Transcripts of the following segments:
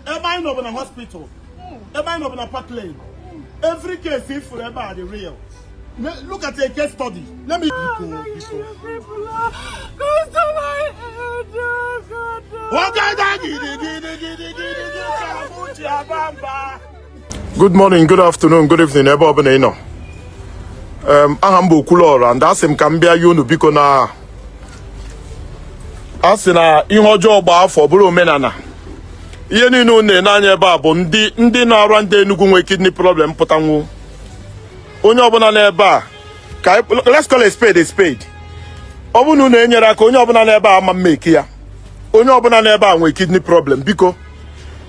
ebe anyị nọ bụ na hospital ebe anyị nọ bụ na park lane every case ị fụrụ ebe a dị real Le- look at a case study let me biko biko nwoke da gidi gidi gidi gidi gidi ka mụ ji aba mba Good morning, good afternoon, good evening ebe ọbụla ị nọ aha m bụ Okwuluọra and asị m ka m bịa yọ unu biko na a sị na ihe ọjọọ gbaa afọ bụrụ omenala ihe niile unu na-ene anya ebe a bụ ndị ndị Anambra ndị Enugu nwee kidney problem pụtanwu onye ọbụla n'ebe a ka let's call a spade a spade ọ bụrụ na unu enyerọ aka onye ọbụla n'ebe a ama emeki ya onye ọbụla n'ebe a nwee kidney problem biko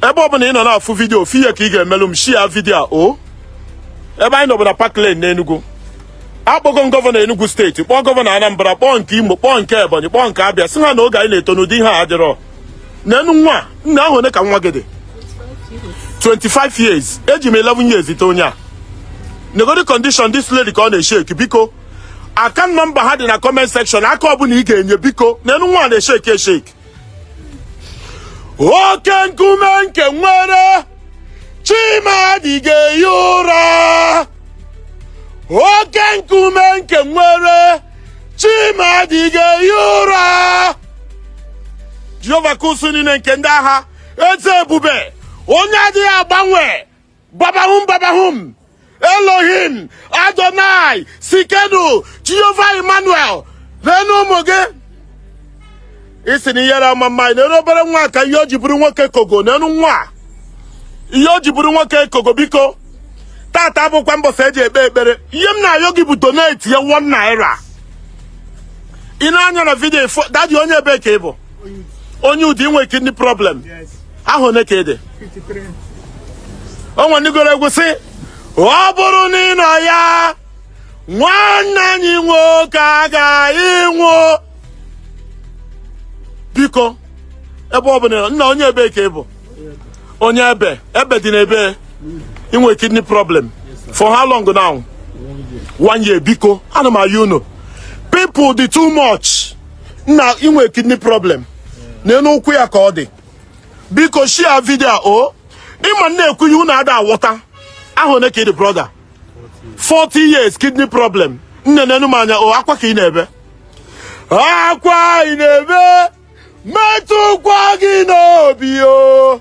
ebe ọbụla ị nọ na-afụ vidiyo ofu ihe ka ị ga-emelụ m shia vidiyo a o ebe anyị nọ bụ na Park Lane n'Enugu akpọgo m gọvanọ Enugu steeti kpọọ gọvanọ Anambra kpọọ nke Imo kpọọ nke Ebonyi kpọọ nke Abịa sị ha na oge anyị na-eto na ụdị ihe a adịrọ nenu nwa nna ahọ one ka nwa gị dị 25 years eji m 11 years tọ onye a negodi condition this lady ka ọ na-esheki biko account nọmba ha dị na comment section aka ọbụla ị ga-enye biko nenu nwa na-esheki esheki oke nkume nke nwere chi m adịghị ehi ụra oke nkume nke nwere chi m adịghị ehi ụra jehova nke usuu niile nke ndị agha eze ebube onye adịghị agbanwe babahum babahum elohim adonai sikenu jehova emmanuel nenu ụmụ gị ị sị na ihere ama eme anyị nenu obere nwa ka ihe o ji bụrụ nwoke kogo nenu nwa a. ihe o ji bụrụ nwoke kogo biko tata abụkwa mbọsị eji ekpe ekpere ihe m na-ayọ gị bụ donate your 1 naira ị nee anya na vidiyo dadi onye ebee ka ị bụ onye Udi ị nwe kidney problem ahọ one ka ị dị o nwe ndị gụrụ egwu sị ọ bụrụ na ị nọ ya nwanne anyị nwoke agaghị anwụ biko ebe ọ bụla nna onye ebee ka ị bụ onye Ebe Ebe dị n'ebee ị nwe kidney problem for how long now one year biko ana m ayọ unu people dị too much nna ị nwe kidney problem nenu ụkwụ ya ka ọ dị biko shia vidio a o ị ma na ekwu ihe unu ada awọta ahọ one ka ị dị brọda 40 years kidney problem nne nenu m anya o akwa ka ị na-ebe akwa ị na-ebe metụkwa gị n'obi o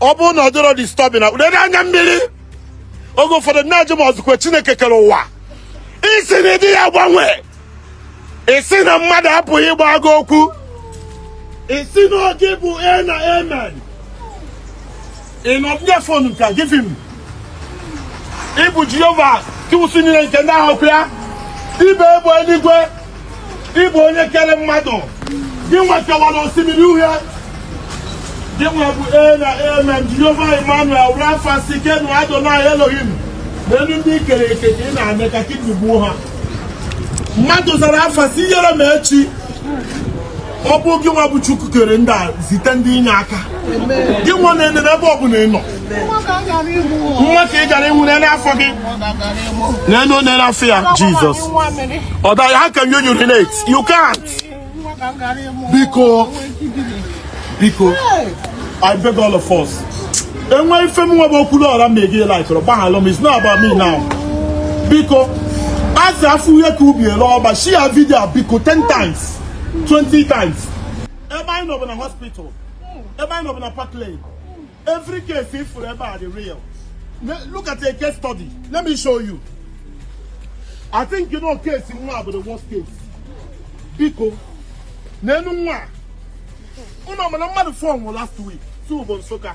ọ bụrụ na ọ dịrọ disturbing na ụdị anya mmiri oge ụfọdụ na-ajụ m ọzụkwe chineke kere ụwa ị sị na ị dịghị agbanwe ị sị na mmadụ apụghị ịgbagha okwu ị sị na ọ gị bụ ee na amen ịnọbịa fon nka gịfị m ị bụ jehova nke usuu niile nke ndị agha pịa ibe egbe eluigwe ị bụ onye kere mmadụ gị nwa kewara osimiri uhie gị nwa bụ ee na amen jehova emmanuel rafa sikenu adonai elohim neenụ ndị i kere eke ka ị na-eme ka kidney gbuo ha mmadụ zara afa sị yere m echi ọ bụ gị nwa bụ Chukwu kere ndị a zite ndị inye aka gị nwa na-enere ebe ọ bụla ị nọ nwa ka ị gara ịnwụ n'ele afọ gị n'elu n'ele afọ ya Jizọs ọ daghị ha ka you urinate you can't biko biko I beg all of us enwe ife m nwa bụ okwulu ọra ma ege laikụrụ gbaghalụ m is not about me now biko a sị a fụ ihe ka ubi e lee ọba share video biko 10 times 20 times ebe anyị nọ bụ na hospital ebe anyị nọ bụ na park lane every case ị fụrụ ebe a dị real look at a case study let me show you i think you know case nwa bụ the worst case biko n'elu nwa unu ma na mmadụ four nwụrụ last week two bụ nsụka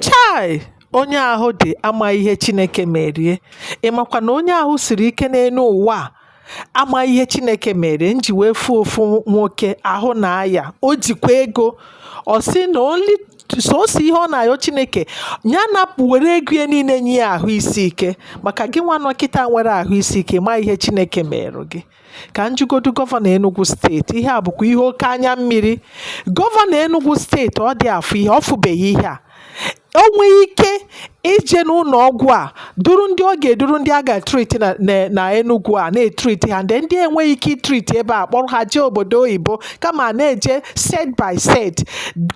chai onye ahụ dị ama ihe chineke mere ya ị makwa na onye ahụ siri ike n'elu ụwa a ama ihe chineke mere m ji wee fụ ofu nwoke ahụ na-aya o jikwa ego ọ sị na only sọsọ ihe ọ na-ayọ chineke ya napụ were ego ya niile nye ya ahụ isi ike maka gị nwa nọ kịta nwere ahụ isi ike ama ihe chineke mere gị ka m jụgodu gọvanọ enugu steeti ihe a bụkwa ihe oke anya mmiri gọvanọ enugu steeti ọ dị afụ ihe ọ fụbeghị ihe a o nweghị ike ije n'ụlọ ọgwụ a duru ndị ọ ga-eduru ndị a ga-etriti na na- na Enugu a na-etriti ha ndị ndị enweghị ike itriti ebe a kpọrọ ha jee obodo oyibo kama a na-eje set by set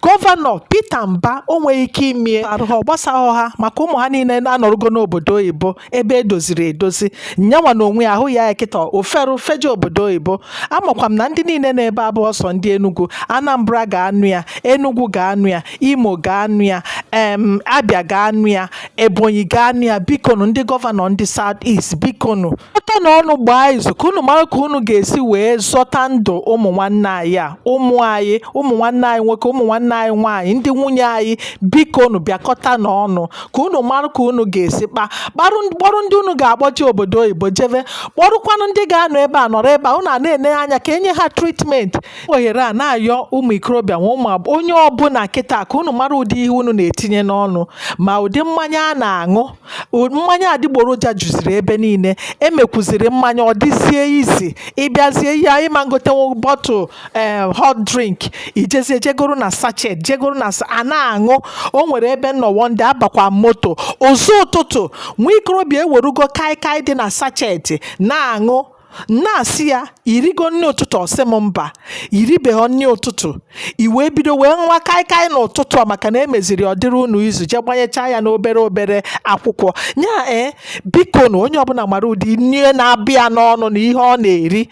gọvanọ Peter Mba o nweghị ike imere ha ọ gbasaghọ ha maka ụmụ ha niile na-anọrụgo n'obodo oyibo ebe e doziri edozi ya nwa n'onwe ya ahụ ya ya kịta o fere o feje obodo oyibo amakwa m na ndị niile n'ebe a bụ sọ ndị Enugu Anambra ga-anụ ya Enugu ga-anụ ya Imo ga-anụ ya em Abia ga-anụ ya Ebonyi ga-anụ ya bikonu ndị gọvanọ ndị South East bikonu bịakọta na ọnụ gbaa izu ka unu mara ka unu ga-esi wee zọta ndụ ụmụ nwanne anyị a ụmụ anyị ụmụ nwanne anyị nwoke ụmụ nwanne anyị nwaanyị ndị nwunye anyị bikonu bịakọta na ọnụ ka unu mara ka unu ga-esi kpa kparụ kpọrọ ndị unu ga-akpọje obodo oyibo jebe kpọrụkwanụ ndị ga-anọ ebe a nọrọ ebe a unu a na-ene anya ka enye ha treatment ohere a na-ayọ ụmụ ikorobịa na ụmụ agbọghọ onye ọbụla kịta ka unu mara ụdị ihe unu na-etinye n'ọnụ ma ụdị mmanya a na-aṅụ o- mmanya adịgboroja juziri ebe niile emekwuziri mmanya ọ dịzie easy ị bịazie ị ma ngotenwu bottle ee hot drink i jezie jee goro na sachet jee goro na sa- a na-aṅụ o nwere ebe m nọ one day abakwa moto ụzọ ụtụtụ nwa ikorobịa ewerugo kaikai dị na sachet na-aṅụ na-asị ya i rigo nri ụtụtụ ọ sị m mba i ribeghị nri ụtụtụ i wee bido wee ṅụwa kaikai n'ụtụtụ a maka na emeziri ọ dịrị unu easy jee gbanyechaa ya n'obere obere akwụkwọ ya ee eh, biko na onye ọbụla mara ụdị nri na-aba ya n'ọnụ na ihe ọ na-eri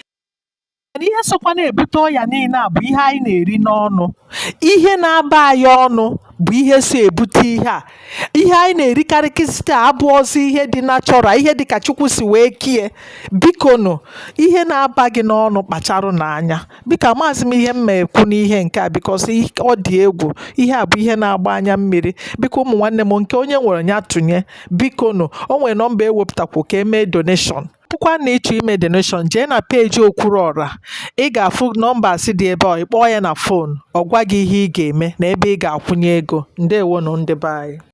mana ihe sokwa na-ebute ọya niile a bụ ihe anyị na-eri n'ọnụ ihe na-aba anyị ọnụ bụ ihe so ebute ihe a ihe anyị na-erikarị kịsịta abụọzi ihe dị natural ihe dị ka chukwu si wee kie bikonu ihe na-aba gị n'ọnụ kpacharụnụ anya biko amaghịzi m ihe m ma ekwu n'ihe nke a because ọ dị egwu ihe a bụ ihe na-agba anya mmiri biko ụmụ nwanne m nke onye nwere ya tụnye bikonu o nwere nọmba ewepụtakwu ka emee donation Bụkwa na ị chọọ ime donation jee na peeji Okwuruọra ị ga-afụ numbers dị ebe ọ ị kpọọ ya na phone ọ gwa gị ihe ị ga-eme na ebe ị ga-akwụnye ego ndewonụ ndị be anyị